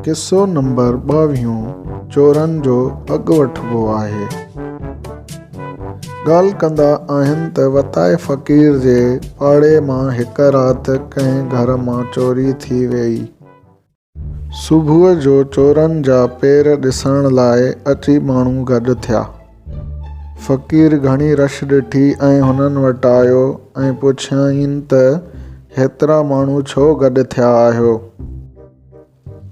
قصو نمبر ٻاويهون چورن جو اڳ وٺبو آهي ڳالهه ڪندا آهن ته وتائي فقير جي پاڙي مان هڪ رات ڪنهن گهر مان چوري ٿي ويئي صبح جو چورن جا پير ڏسڻ لاء اچي ماڻهو گڏ ٿيا. فقير گهڻي رش ڏٺي ۽ هنن وٽ آيو ۽ پڇيائين ته هيترا ماڻهو ڇو گڏ ٿيا آهيو؟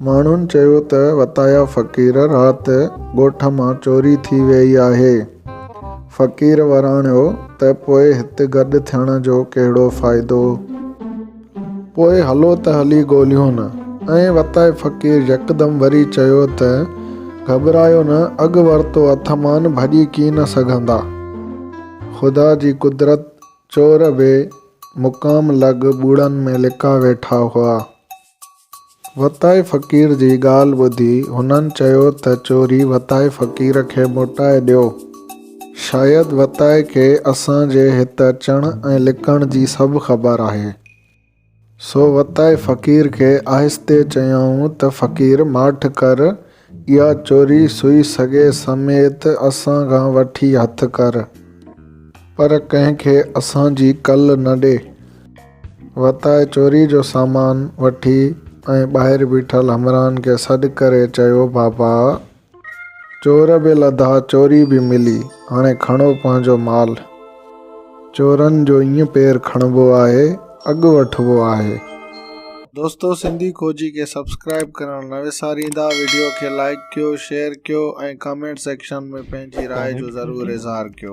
ماڻهن چيو ته وتايا فقير رات ڳوٺ مان چوري ٿي ويئي آهي. فقير وراڻيو ته پوء هت گڏ ٿيڻ جو ڪهڙو فائدو؟ پوء هلو ته هلي ڳوليون. ائين وتائي فقير يڪدم وري چيو ته، گهٻرايو نه، اڳ ورتو هٿ مان ڀڄي ڪين نه سگهندا. خدا جي قدرت، چور بي مقام لڳ ٻوڙن ۾ لڪا ويٺا هئا. وتائي فقير جي ڳالهه ٻڌي هنن چيو ته چوري وتائي فقير کي موٽائي ڏيو. شايد وتائي کي اسان جي هت اچڻ ۽ لڪڻ جي سڀ خبر آهي. سو وتائي فقير کي آهستي چيائون ته فقير ماٺ ڪر. اها چوري سوئي سگهي سميت اسان کان وٺي هٿ ڪر، پر ڪنهن کي اسان جي ڪل نه ڏي. وتاء چوري جو سامان وٺي ۽ ٻاهر بيٺل همراهن کي سڏ ڪري چيو بابا! چور به لڌا چوري به ملي، هاڻي کڻو پنهنجو مال. چورن جو ائين پير کڻبو آهي اڳ وٺبو آهي. دوستو سنڌي کوجي کي سبسڪرائيب ڪرڻ نه وساريندا ويڊيو کي لائيڪ ڪيو شيئر ڪيو ۽ ڪامينٽ سيڪشن ۾ پنهنجي راء جو ضرور اظهار ڪيو.